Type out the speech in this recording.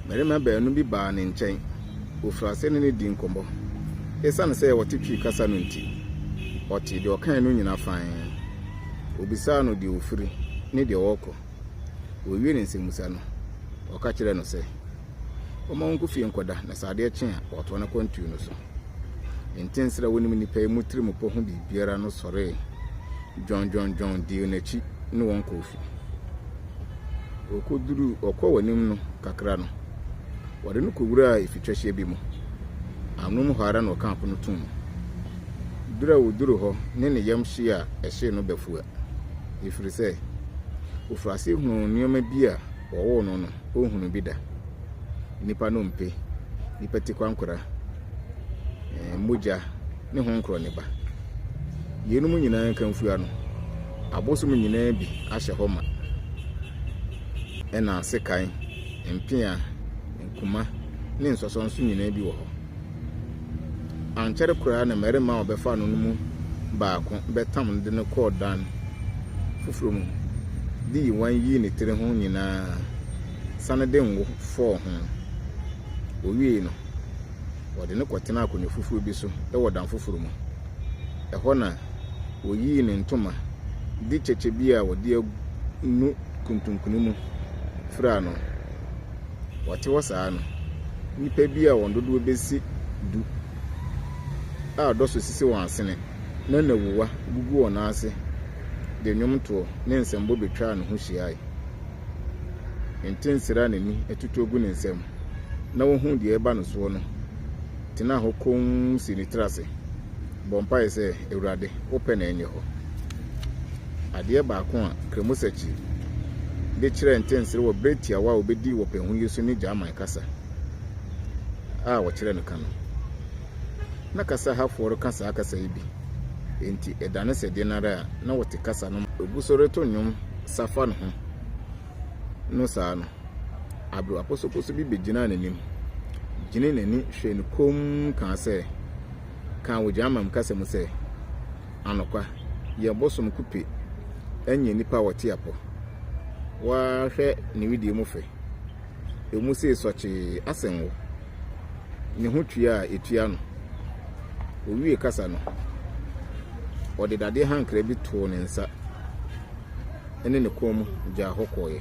Mmarima baanu bi baa ne nkyɛn. Wɔfirii aseɛ ne no dii nkɔmmɔ. Esiane sɛ ɔte Twi kasa no nti, ɔtee deɛ ɔkae no nyinaa fann. Ɔbisaa no deɛ ɔfiri ne deɛ ɔrekɔ. Ɔwiee ne nsɛmmisa no, ɔka kyerɛɛ no sɛ, ɔmma ɔnkɔ fie nkɔda na sɛ adeɛ kye a, watoa n'akwantuo no so. Ntensɛr a wonim nnipa yi mu tirimupɔ ho biribiara no sɔree dwɔndwɔndwɔn dii no akyi ne wɔn kɔɔ fi. Okoduruu ɔkɔɔ wɔn anim no kakra no, wɔde no kowuraa efitwahyia bi mu. Anom hɔ ara na ɔkaa po no too mu. Ber a oduruu hɔ ne ne yam hyee a ɛhyee no bafua, efiri sɛ ofir ase hunuu nneɛma bi a wɔwoo no no. ɔnhunu bi da. Nnipa no mpe, nnipa tikwankora, eh, mogya ne ho nkorɔ ne ba. Yeinom nyinaa nkamfua no, abosom nyinaa bi ahyɛ hɔ ma. Ɛna sekan, mpea, nkuma ne nsɔsɔnso nyinaa bi wɔ hɔ. Ankyɛre koraa na mmarima a wɔbɛfaa no no mu baako bɛtam no de no kɔɔ dan foforo mu dii nguan yii ne tiri ho nyinaa sane de ngo fɔɔ ho. Wowiei no, wɔde no kɔtenaa akonnwa foforo bi so wɔ dan foforo mu. Ɛhɔ na woyii ne ntoma de kyɛkyɛ bi a wɔde anu kuntunkuni mu furaa no. wɔte hɔ saa no, nnipa bi a wɔn dodoɔ bɛsi du a dɔsɔ sisi wɔn asene na nnawuwa gugu wɔn nan ase de nnwomtoɔ ne nsɛmbɔ bɛtwaa ne ho hyiae. Ntensera a n'ani atutuo gu ne nsam na ɔhunu deɛ ɛreba no soɔ no, tenaa hɔ komm sii ne tiri ase bɔɔ mpaeɛ sɛ, Awurade, wo pɛ na ɛnyɛ hɔ. Adeɛ baako a Kremoseki de kyerɛɛ ntɛnsereɛ wɔ berɛ tiawa a ɔbɛdii wɔ pɛn ho yi so ne German kasa a wɔkyerɛ no ka no. Na kasa hafoɔ reka saa kasa yi bi, enti ɛdane sɛ deɛn ara a na wɔte kasa no ma. Ɔgu so reto nnwom safa ne ho no saa no, abrewa posoposo bi begyinaa n'anim, gyinii n'ani hwɛɛ no komm kaa sɛ, kaa wɔ German kasa mu sɛ, Anokwa, yɛn bosom kupe nyɛ nnipa a wɔte apɔ. Waa hwɛ ne wedeɛ mu fɛ. Emu see sɔkyee asen wo. Ne ho tua a etua no. Owiee kasa no, ɔde dadeɛ hankra bi too ne nsa ne ne kɔn mu gyaa hɔ kɔeɛ.